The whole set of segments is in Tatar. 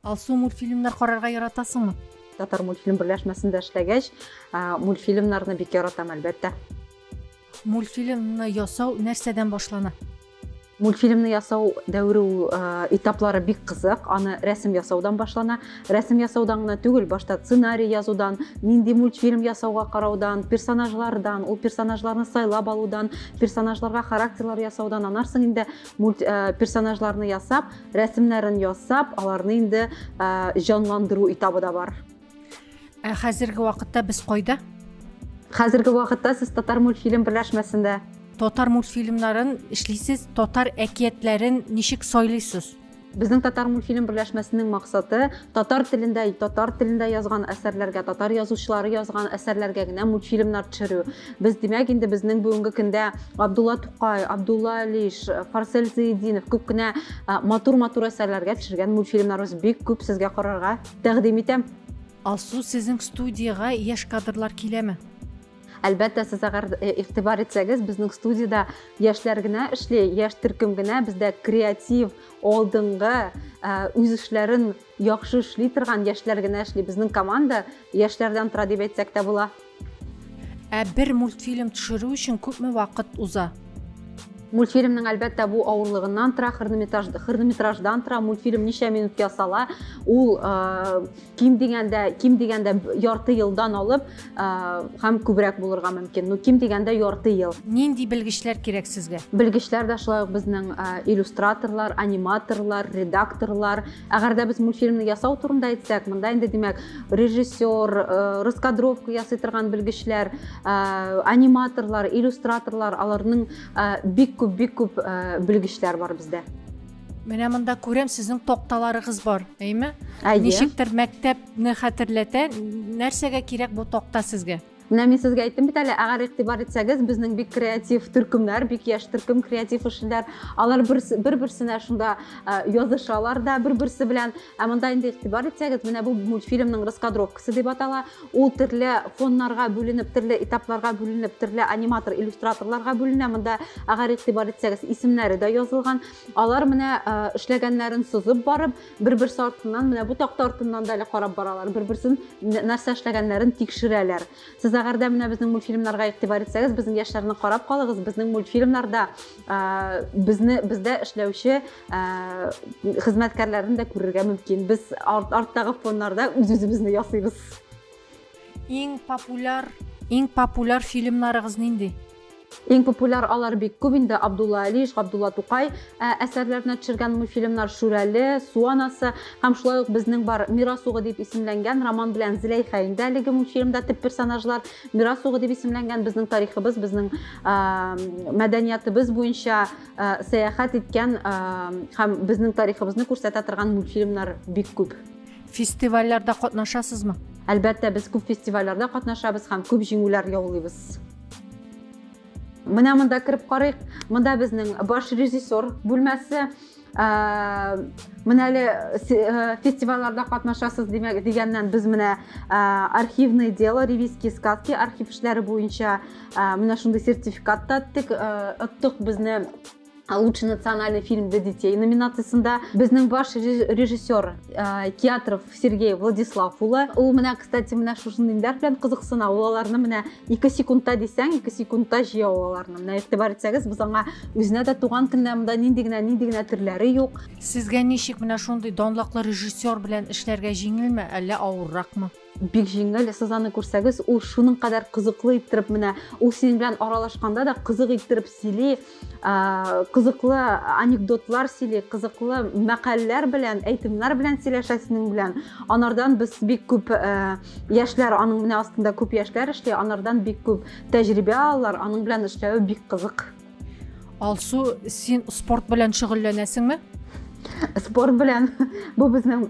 Алсу, мультфильмнар карарга яратасыңмы? Татар мультфильм берләшмәсендә эшләгәч, мультфильмнарны бик яратам, әлбәттә. Мультфильмны ясау нәрсәдән башлана? мультфильмны ясау дәвре э, этаплары бик кызык аны рәсем ясаудан башлана рәсем ясаудан гына түгел башта сценарий язудан нинди мультфильм ясауга караудан персонажлардан ул персонажларны сайлап алудан персонажларга характерлар ясаудан анарсың инде Э, персонажларны ясап, рәсемнәрен ясап, аларны инде э, җанландыру этабы да бар. Ә хәзерге вакытта без кайда? Хәзерге вакытта сез Татар мультфильм берләшмәсендә. Татар мультфильмнарын эшлисез, татар әкиятләрен ничек сайлыйсыз? Безнең Татармультфильм берләшмәсенең максаты татар телендә, татар телендә язган әсәрләргә, татар язучылары язган әсәрләргә генә мультфильмнар төшерү. Без, димәк, инде безнең бүгенге көндә Абдулла Тукай, Абдулла Алиш, Фарсель Зыйдинов күп кенә матур-матур әсәрләргә төшергән мультфильмнарыбыз бик күп сезгә карарга тәкъдим итәм. Алсу, сезнең студиягә яшь кадрлар киләме? Әлбәттә, сез әгәр э, игътибар итсәгез, безнең студиядә яшьләр генә эшли, яшь төркем генә, бездә креатив, алдынгы, э, үз эшләрен яхшы эшли торган яшьләр генә эшли. Безнең команда яшьләрдән тора дип әйтсәк тә була. Ә бер мультфильм төшерү өчен күпме вакыт уза? мультфильмның әлбәттә бу авырлыгыннан тора хронометраж хронометраждан тора мультфильм ничә минут ясала ул э, ким дигәндә ким дигәндә ярты елдан алып һәм күбрәк булырга мөмкин. Ну, ким дигәндә ярты ел. Нинди белгечләр кирәк сезгә? Белгечләр дә шулай ук безнең иллюстраторлар, аниматорлар, редакторлар. Әгәр дә без мультфильмны ясау турында әйтсәк, монда инде димәк режиссер, раскадровка ясый торган белгечләр, аниматорлар, иллюстраторлар, аларның бик күп, бик күп белгечләр бар бездә. Менә монда күрәм, сезнең токталарыгыз бар, әйме? Әйе. Ничектер мәктәпне хәтерләтә. Нәрсәгә кирәк бу токта сезгә? Менә мин сезгә әйттем бит әле, әгәр игътибар итсәгез, безнең бик креатив төркемнәр, бик яшь төркем креатив эшләр. Алар бер-берсенә шунда язышалар да, бер-берсе белән Ә монда инде игътибар итсәгез, менә бу мультфильмның раскадровкасы дип атала. Ул төрле фоннарга бүленеп, төрле этапларга бүленеп, төрле аниматор, иллюстраторларга бүленә. Монда әгәр игътибар итсәгез, исемнәре дә язылган. Алар менә э, эшләгәннәрен сузып барып, бер-бер сартыннан, менә бу такта артыннан да әле карап баралар. Бер-берсен нәрсә эшләгәннәрен тикшерәләр. Сез әгәр дә менә безнең мультфильмнарга игътибар итсәгез, безнең яшьләрне карап калыгыз. Безнең мультфильмнарда Э, безне бездә эшләүче э, хезмәткәрләрне дә күрергә мөмкин без арт, арттагы фоннарда үз үзебезне ясыйбыз иң популяр иң популяр фильмнарыгыз нинди Иң популяр алар бик күп инде Абдулла Алиш, Габдулла Тукай э, әсәрләренә төшергән мультфильмнар Шүрәле, Суанасы һәм шулай ук безнең бар Мирасугы дип исемләнгән роман белән Зиләйха инде әлеге мультфильмда төп персонажлар Мирас угы дип исемләнгән безнең тарихыбыз, безнең мәдәниятыбыз буенча сәяхәт иткән һәм безнең тарихыбызны күрсәтә торган мультфильмнар бик күп. Фестивальләрдә катнашасызмы? Әлбәттә, без күп фестивальләрдә катнашабыз һәм күп җиңүләр яулыйбыз. Менә монда кереп карыйк. Монда безнең баш режиссер бүлмәсе. Ә, менә әле э, фестивальләрдә катнашасыз димәк дигәннән без менә э, архивный дело ревизские сказки архив эшләре буенча э, менә шундый сертификат та оттык оттык безне лучший национальный фильм для детей номинациясендә безнең баш режиссер Киатров Сергей Владислав улы. Ул менә, кстати, менә шушы ниләр белән кызыксына. Ул аларны менә 2 секундта дисәң, 2 секундта җыя аларны. Менә игътибар итсәгез, без аңа үзенә дә туган көндә монда нинди генә, нинди генә төрләре юк. Сезгә ничек менә шундый данлыклы режиссер белән эшләргә җиңелме, әллә авырракмы? бик җиңел сез аны күрсәгез ул шуның кадәр кызыклы иттереп менә ул синең белән аралашканда да кызык иттереп сөйли кызыклы анекдотлар сөйли кызыклы мәкальләр белән әйтемнәр белән сөйләшә синең белән анардан без бик күп ә, яшьләр аның менә астында күп яшьләр эшли анардан бик күп тәҗрибә алалар аның белән эшләве бик кызык алсу син спорт белән шөгыльләнәсеңме спорт белән бу безнең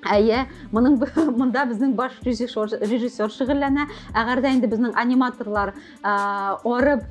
Әйе, моның монда безнең баш режиссер, режиссер шөгыльләнә. Әгәр дә инде безнең аниматорлар арып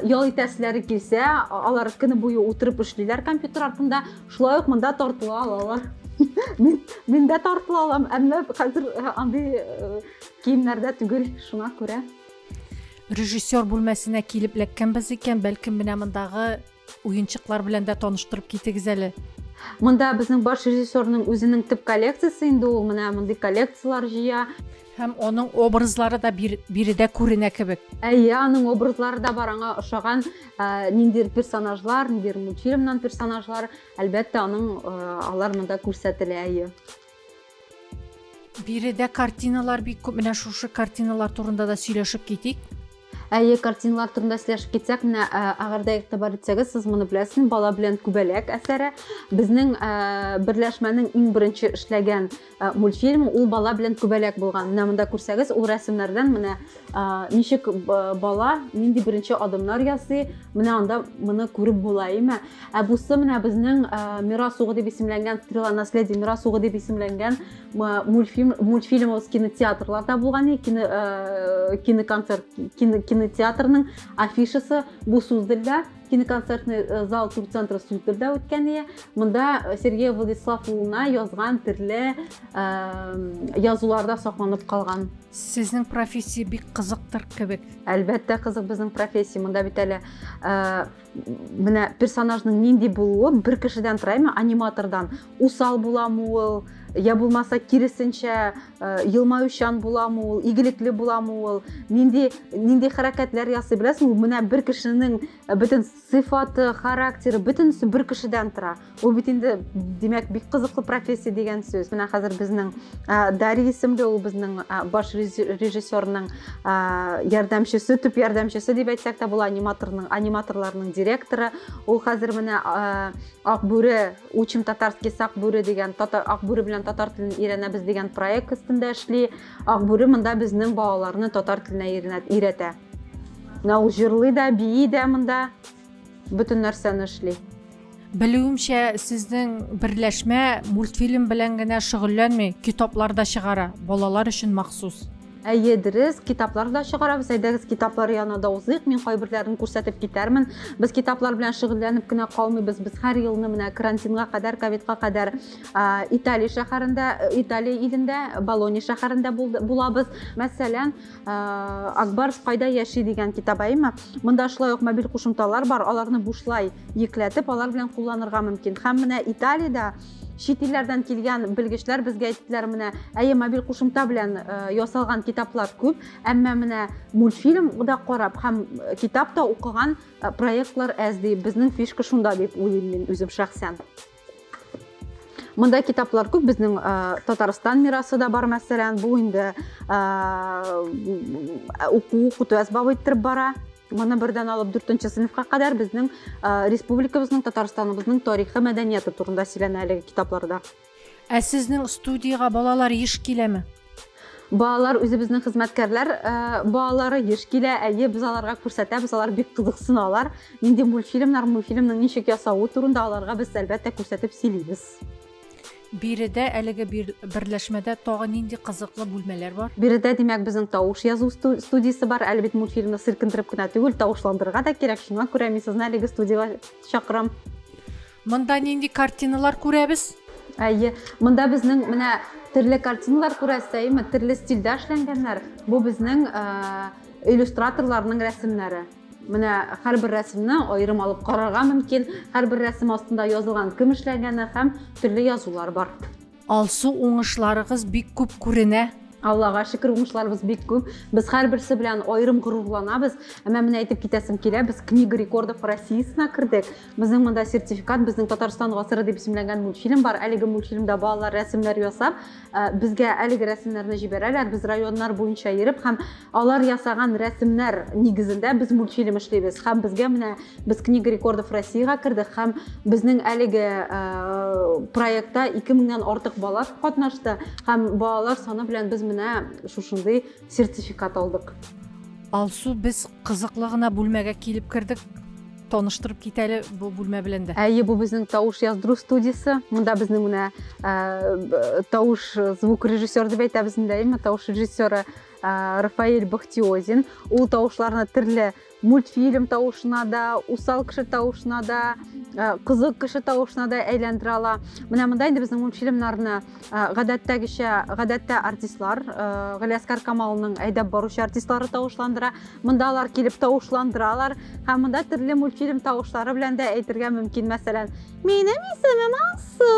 ял итәселәре килсә, алар көне буе утырып эшлиләр компьютер артында. Шулай ук монда тартыла алалар. Мин мин дә тартыла алам, әмма хәзер андый киемнәрдә түгел, шуңа күрә. Режиссер бүлмәсенә килеп эләккәнбез икән, бәлкем менә мондагы Уенчыклар белән дә таныштырып китегез әле. Монда безнең баш режиссерның үзенең төп коллекциясе инде ул менә мондый коллекцияләр җыя. Һәм аның образлары да бир, биредә күренә кебек. Әйе, аның образлары да бар, аңа ошаган ә, ниндидер персонажлар, ниндидер мультфильмнан персонажлар, әлбәттә, аның ә, алар монда күрсәтелә, әйе. биредә картиналар бик күп менә шушы картиналар турында да сөйләшеп китик әйе картиналар турында сөйләшеп китсәк менә ә, әгәрдә игътибар итсәгез сез моны беләсез бала белән күбәләк әсәре безнең ә, берләшмәнең иң беренче эшләгән ә, мультфильм ул бала белән күбәләк булган менә монда күрсәгез ул рәсемнәрдән менә ничек бала нинди беренче адымнар ясый менә анда моны күреп була име ә бусы менә безнең мирас угы дип исемләнгән стрела наследия мирас угы дип исемләнгән мультфильм мультфильмыбыз кинотеатрларда булган кино киноконцерт кинотеатрның афишасы бу сүздердә киноконцертный э, зал турцентры сүздердә үткән ие монда э, сергей владислав улына язган төрле язуларда сакланып калган Сезнең профессия бик кызыктыр кебек. Әлбәттә кызык безнең профессия. Монда бит әле э, менә персонажның нинди булуы бер кешедән тора, әмма аниматордан. Усал буламы ул, я булмаса киресенчә э, елмаючан буламы ул, игелекле буламы ул, нинди нинди хәрәкәтләр ясый беләсең, менә бер кешенең э, бөтен сыйфаты характеры бөтенесе бер кешедән тора ул бит инде димәк бик кызыклы профессия дигән сүз менә хәзер безнең дари исемле ул безнең баш режиссерның ярдәмчесе төп ярдәмчесе дип әйтсәк тә була аниматорның аниматорларның директоры ул хәзер менә акбүре учим татарский сакбүре дигән татар акбүре белән татар телен өйрәнәбез дигән проект өстендә эшли акбүре монда безнең балаларны татар теленә өйрәтә Менә ул җырлый да, бии дә монда, бөтен нәрсәне эшли. Белүемчә, сезнең берләшмә мультфильм белән генә шөгыльләнми, китаплар да чыгара, балалар өчен махсус. Әйе, дөрес, китаплар да чыгарабыз. Әйдәгез, китаплар янына да узыйк. Мин кайберләрен күрсәтеп китәрмен. Без китаплар белән шөгыльләнеп кенә калмыйбыз. Без һәр елны менә карантинга кадәр, ковидка кадәр Италия шәһәрендә, Италия илендә, Болония шәһәрендә булабыз. Мәсәлән, Э, акбарс кайда яши дигән китап әйме монда шулай ук мобиль кушымталар бар аларны бушлай йөкләтеп алар белән кулланырга мөмкин һәм менә италиядә чит илләрдән килгән белгечләр безгә әйттеләр менә әйе мобиль кушымта белән э, ясалган китаплар күп әмма менә мультфильм да карап һәм э, китап та укыган проектлар әз ди безнең фишка шунда дип уйлыйм мин үзем шәхсән Монда китаплар күп, безнең Татарстан мирасы да бар, мәсәлән, бу инде уку, укыту әсбабы иттереп бара. Моны бердән алып 4-нче сыйныфка кадәр безнең республикабызның, Татарстаныбызның тарихы, мәдәнияты турында сөйләнә әлеге китапларда. Ә сезнең студиягә балалар еш киләме? Балалар үзебезнең хезмәткәрләр э, балалары еш килә, әйе, без аларга күрсәтәбез, алар бик кызыксыналар. Нинди мультфильмнар, мультфильмның ничек ясавы турында аларга без әлбәттә күрсәтеп сөйлибез. Биредә әлеге берләшмәдә тагы нинди кызыклы бүлмәләр бар? Биредә, димәк, безнең тавыш язу студиясе бар. Әле бит мультфильмны сиркендереп кенә түгел, тавышландырырга да кирәк. Шуңа күрә мин сезне әлеге студиягә чакырам. Монда нинди картиналар күрәбез? Әйе, монда безнең менә төрле картиналар күрәсез, әйеме? Төрле стильдә эшләнгәннәр. Бу безнең э, иллюстраторларның рәсемнәре. Менә һәрбер рәсемне аерым алып карарга мөмкин. Һәрбер рәсем астында язылган кем эшләгәне һәм төрле язулар бар. Алсу уңышларыгыз бик күп күренә. Аллага шөкер, уңышларыбыз бик күп. Без һәрберсе белән аерым горурланабыз. Әмма менә әйтеп китәсем килә, без Книга рекордов Россиясенә кердек. Безнең монда сертификат, безнең Татарстан гасыры дип исемләнгән мультфильм бар. Әлеге мультфильмда балалар рәсемнәр ясап, э, безгә әлеге рәсемнәрне җибәрәләр. Без районнар буенча йөреп һәм Алар ясаган рәсемнәр нигезендә без мультфильм эшлибез һәм безгә менә без книга рекордов Россиягә кердек һәм безнең әлеге э, проектта 2000 меңнән артык бала катнашты һәм балалар саны белән без менә шушындый сертификат алдык. Алсу, без кызыклы гына бүлмәгә килеп кердек. Таныштырып кит әле бу бүлмә белән дә. Әйе, бу безнең тавыш яздыру студиясе. Монда безнең менә э, тавыш звук режиссер дип әйтәбез инде, әйеме, тавыш режиссеры Ә, Рафаэль Бахтиозин. Ул тавышларны төрле мультфильм тавышына да, усал кеше тавышына да, ә, кызык кеше тавышына да әйләндерә ала. Менә монда инде безнең мультфильмнарны ә, гадәттәгечә, гадәттә артистлар, ә, Галиәскар Камалның әйдәп баручы артистлары тавышландыра. Монда алар килеп тавышландыралар һәм монда төрле мультфильм тавышлары белән дә әйтергә мөмкин. Мәсәлән, минем исемем Алсу.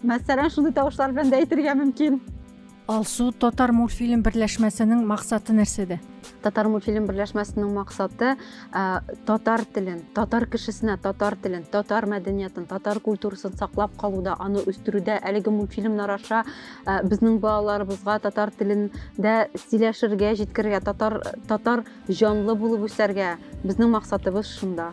Мәсәлән, шундый тавышлар белән дә әйтергә мөмкин. Алсу, Татармультфильм берләшмәсенең максаты нәрсәдә? Татармультфильм берләшмәсенең максаты ә, татар телен, татар кешесенә татар телен, татар мәдәниятын, татар культурасын саклап калуда, аны үстерүдә әлеге мультфильмнар аша ә, безнең балаларыбызга татар телендә сөйләшергә, җиткерергә, татар татар җанлы булып үсәргә. Безнең максатыбыз шунда.